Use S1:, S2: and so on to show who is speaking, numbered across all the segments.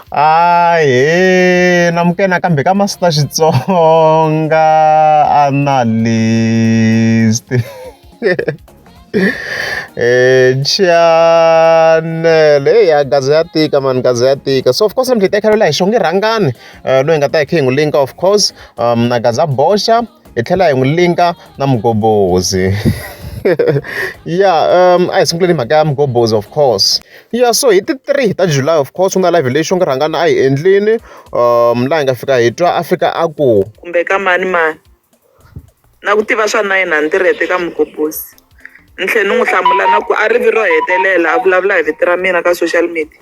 S1: Ahee namukela nakambe ka Master Xitsonga Analyst channel hey ya gaza ya tika mani gaza ya tika so of course namhlanje hi ta hi xonge rhangani eh, loyi nga ta hi khe hi n'wi linka of course um, na gaza boxa hi tlhela hi n'wi linka na mugobhozi ya um a hi sunguleni mhaka ya mugobhozi of course ya so hi ti three ta july of course ku na live leyi xo ngi rhangana a hi endlini um laha hi nga fika hi twa a fika a ku kumbe ka mani mani
S2: na ku tiva swa nine hundred eka mugobhozi ni tlhela ni n'wi hlamula na ku a ri vi ro hetelela a vulavula hi vito ra mina ka social media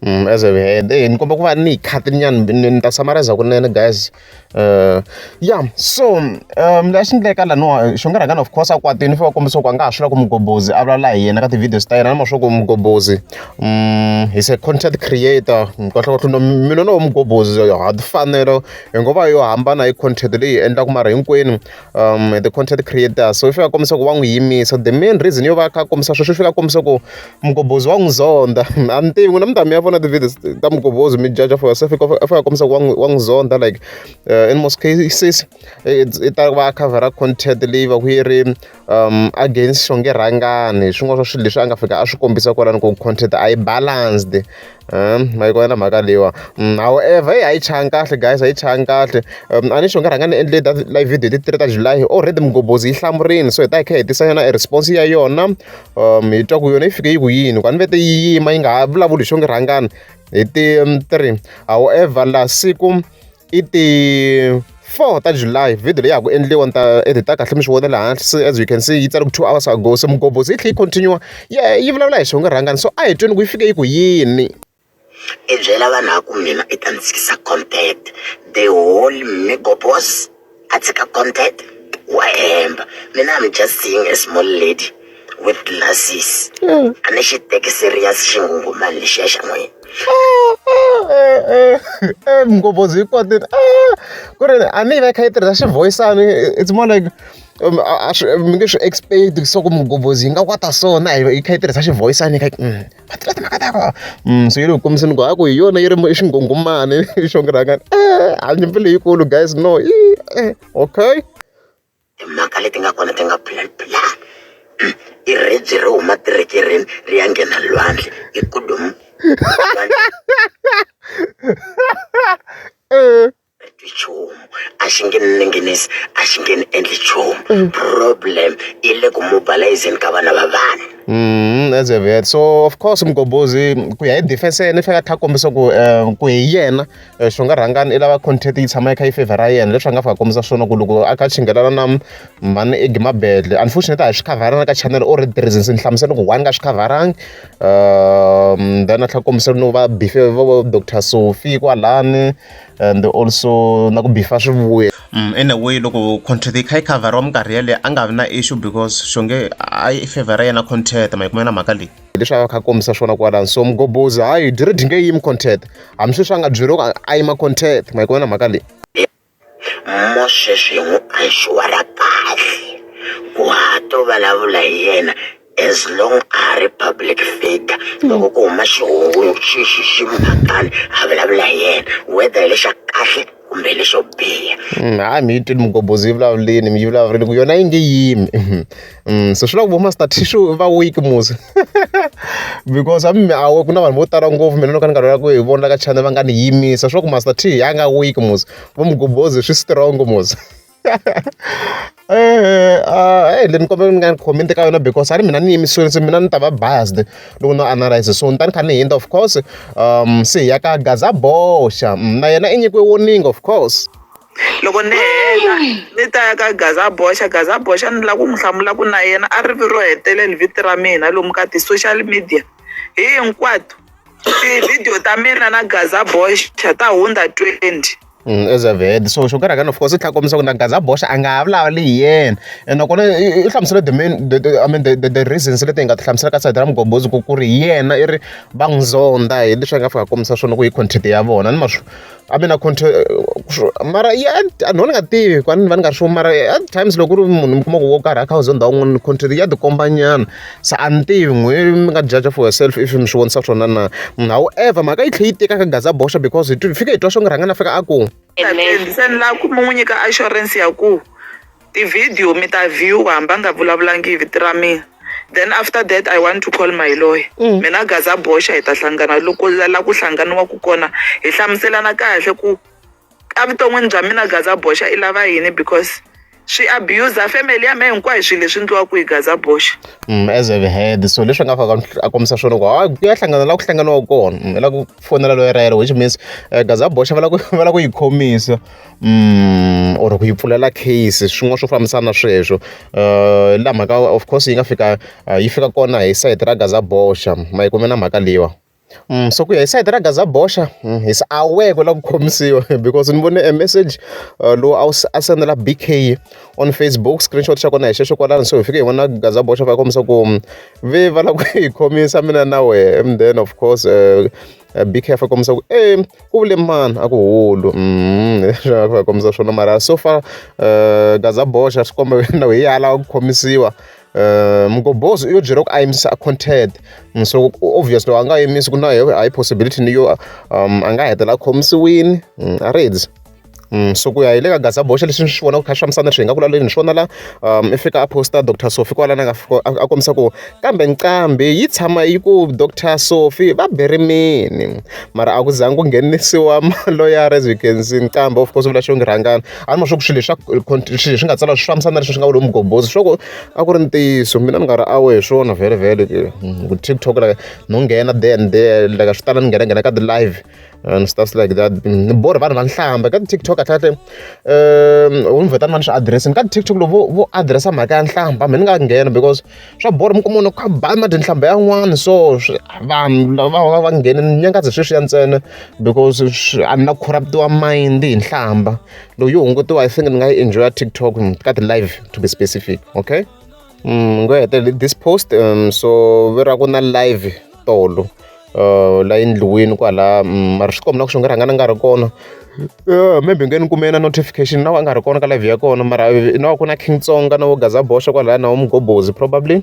S2: As we
S1: head eya ni kombela ku va ni khati nyana ni ni ta samareza kunene guys ya so lexi endleka laniwa xinkarhana of course a kwatile fane a kombisa ku a nga ha swi lava ku mughobozi a vulavula hi yena ka ti-videos ta yena na ma swa ku mughobozi he's a content creator kahlekahle mi lo no mughobozi ha timfanelo hi ngo va yo hambana hi content leyi endlaka mara hinkwenu the content creator so i fika a kombisa ku wa n'wi yimisa the main reason yo va a kha a kombisa sweswo i fika a kombisa ku Mugobhozi wa n'wi zonda a ni tivi n'wina mi ta mi ya vona ti-videos ta Mugobhozi mi judge for yourself a fika a kombisa ku wa n'wi wa n'wi zonda like uh, in most cases i ta va a covera content leyi va ku yi ri um against xonge rhangani hi swin'wana swa swilo leswi a nga fika a swi kombisa kwalano ku content a yi balanced ma yi kona mhaka leyiwa however a yi changi kahle guys a yi changi kahle a ni xi u nga rhanga ni endle data live video hi ti-three ta July already mughobozi yi hlamurile so hi ta hi kha hi tisa yona e response ya yona hi twa ku yona yi fike yi ku yini ku a ni vete yi yima yi nga ha vulavuli hi xo ngi rhangani hi ti-three however la siku i ti four ta July video leyi ya ha ku endliwa ni ta edit kahle mi swi vona laha hansi as you can see yi tsale ku two hours ago se mughobozi yi tlhe yi continue yi yi vulavula hi swivongo rhangani so a hi tweni ku yi fike yi ku yini i
S3: byela vanhu a ku mina i ta ni tshikisa content the whole migobos a tshika content wa hemba mina am just seeing a small lady with glasses hmm. a ni xi teki serious xingungumani lexiya
S1: xa n'wina mngophozi yi kwatini ku ri a ni yi va yi kha yi tirhisa xivoyisani it's more like um, mi nge swi expect swa ku mugobhozi yi nga kwata so na yi kha yi tirhisa xivoyisani yi kha mm. va tiva timhaka ta vona so yi le ku kombiseni ku a ku hi yona yi ri i xingungumani i xo ngiraka e a nyimpi leyikulu guys no i e okay
S3: timhaka leti nga kona ti nga phulaphula i ribye ri huma tirekereni ri ya nghena lwandle i kudomu nchumu a xi nge ni ninginisi a xi nge ni endli nchumu mm. problem yi le ku mobilizeni ka vana va vanhu Mm, as a
S1: vet so of course mgombozi ku ya hi defense yena i fanele a tlha kombisa ku um ku hi yena eh, xi nga rhangani i lava content yi tshama yi kha yi favor ra yena leswi a nga fika kombisa swona ku loko a kha chinghelana na mhani egi mabedle unfortunately a hi swi khavarana ka channel or the reasons ni hlamusela ku one ka swi khavaranga um then a tlha kombisa no va bife va doctor sophie kwalani and also na ku bifa swivuya mm, in a way loko contract yi kha yi khavhariwa minkarhi yaleyo a nga vi na issue because xonge a yi favor yena contract ma yi kumela mhaka leyi leswi a kha kombisa swona kwalani so mgobozi hayi diri dyi nge yimi contract hambi sweswi a nga byeriwoko a yima contract ma yi kumela mhaka leyi
S3: mosweswi hi n'wi pressure ra kahle ku ha to vulavula hi yena as long a ha ri public figure loko ku huma xihungu xi xi xi mhakani a vulavula hi yena whether hi lexa kahle kumbe lexo biha mm, hayi mi yi twile
S1: mugobhozi yi vulavulini mi yi vulavulini ku yona yi nge yimi mm, so swi la ku vo master tishu va week musi because a mi awe ku na vanhu vo tala ngopfu mina no ka ni nga lwela ku hi vona ka channel va nga ni yimisa swi la ku master t a nga week musi vo mugobhozi swi strong musi Eh, ah, eh, ni kombela mi nga ni comment ka yona because a ri mina ni yimisiwile se mina ni ta va biased loko no analyze so ni ta ni kha ni hindza of course um se hi ya ka gaza boxa mm, na yena i nyikiwe warning of course loko ni
S2: heta ni ta ya ka gaza boxa gaza boxa ni lava ku n'wi hlamula ku na yena a ri vi ro hetelela vito ra mina lomu ka ti-social media hinkwato tivhidiyo ta mina na gaza boxa ta hundza twenty As a Vhede
S1: so xo karhi of course i tlhela a kombisa ku na gazaboxa a nga ha vulavuli hi yena ene nakona i hlamusele the main the the I mean the the the reasons leti hi nga ti hlamusela ka side ra mugombozi ku ku ri hi yena i ri va n'wi zonda hi leswi a nga fika a kombisa swona ku hi content ya vona ni ma swi a mina content mara ya a ni nga tivi ku a ni va ni nga ri sure mara at times loko ku ri munhu mi kuma ku wo karhi a kha a zonda wun'wana content ya tikomba nyana. se a ni tivi n'wehe mi nga judge for yourself if mi swi vonisa swona na however mhaka yi tlhela yi tika ka gaza boxa because hi fike hi twa swo nge rhanga na fika a ku se ni
S2: lava ku mi n'wi nyika assurance ya ku tivhidiyo mi ta view-a hambi a nga vulavulangi hi vito ra mina then after that i want to call my lawyer mm. mina gaza boxa hi ta hlangana loko la ku hlanganiwaku kona hi hlamuselana kahle ku evuton'wini bya mina gaza boxa i lava yini because swi abuser family ya me hinkwayo swilo leswi ndliwaka hi gaza boxa mm, as a
S1: head so leswi nga faka a kombisa swona ku hayi ku ya hlangana la ku hlanganiwa kona mm, la ku fonela loyi rayelo which means uh, eh, gaza boxa va la ku va la ku yi khomisa mm, or ku yi pfulela case swin'wana swo fambisana na sweswo uh, la mhaka of course yi nga fika uh, yi fika kona hi site ra gaza boxa ma yi kume na mhaka leyiwa so ku ya hi sayiti ra Gazzaboxa hi se a wu yi ku lava ku khomisiwa because ni vone e meseji lowu a wu a sendela B_K on Facebook screenshot xa kona hi xexo kwalano so hi fike hi vona Gazzaboxa va kombisa ku ve va lava ku hi khomisa mina na wehe and then of course B_K a fa kombisa ku e ku vule mani a ku hulu a va kombisa swona mara so far Gazzaboxa swi komba na wehe ya lava ku khomisiwa. Uh, mugobhozi u yo byela ku a yimisa a content so obviously a nga yimisi ku na high possibility ni yo um, a nga hetela a khomisiwini mm, a reds mm, so ku ya hi le ka gaza boxa leswi ni swi vonaka kha swi fambisana swi hi nga ku laleni ni swi vona la um i fika a posta dr sofi kwalana nga a kombisa ku kambe nqambi yi tshama yi ku dr sofi va berimini mara a ku zangi ku nghenisiwa maloyara as you can see nqambi of course u vula xo ngi rhangana a ni ma swa ku swilo leswi swilo leswi nga tsala swi fambisana na leswi swi nga va lomu mugombozi swa ku a ku ri ntiyiso mina ni nga ri awe hi swona vhele vhele hmm, ku tiktok like no nghena there and there like swi tala ni nghena nghena ka ti-live and stuff like that hmm, ni borha vanhu va nhlamba ka ti-tiktok kahlekahle um ni vhetani va ni swi adirese ni ka ti-tiktok loko vo vo adiresa mhaka ya nhlamba mi ni nga nghena because swa bolo mi kuma munhu kha ba mati nhlamba yan'wana so vanhu lava va va nghene ni nyangazi sweswiya ntsena because a ni na corruptiwa mind hi nhlamba lowu yi hungutiwa i think ni nga yi enjoya tiktok ka ti-live to be specific okay mm, ngo hetelele this post um, so ve ra ku na live tolo la endliwini kwala mara swi komba na ku swi nga rhanga ni nga ri kona maybe u nge ni kume na notification na wena a nga ri kona ka live ya kona mara na wa ku na King Tsonga na vo Gaza boxa kwalaya na vo Mghobozi probably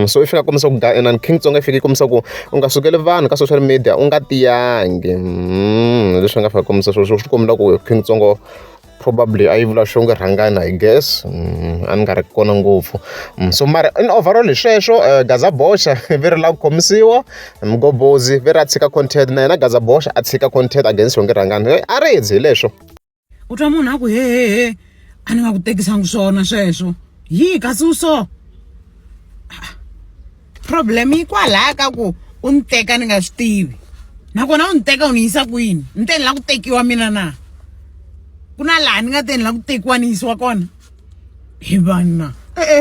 S1: so i fika a kombisa ku inana King Tsonga i fike i kombisa ku u nga sukeli vanhu ka social media u nga tiyangi hi leswi ni nga fika kombisa sweswo swi kombela ku King Tsonga. probably a yi vula swo nge rhangana i guess mm, a ni nga ri kona ngopfu mm, so mara in overall hi sweswo eh, gaza boxa ve ri la ku khomisiwa mgobozi ve ri a tshika content na yena gaza boxa a tshika content against swo nge rhangana eh, a ri hi leswo u twa munhu
S4: a ku hehehe a ni nga ku tekisangi swona sweswo yi kasi u so problem yi kwalaha ka ku u ni teka ni nga swi tivi nakona u ni teka u ni yisa kwini ni te ni la ku tekiwa mina na ku na laha ni nga te ni la ku tekiwa ni yisiwa kona hi vanhu na e-e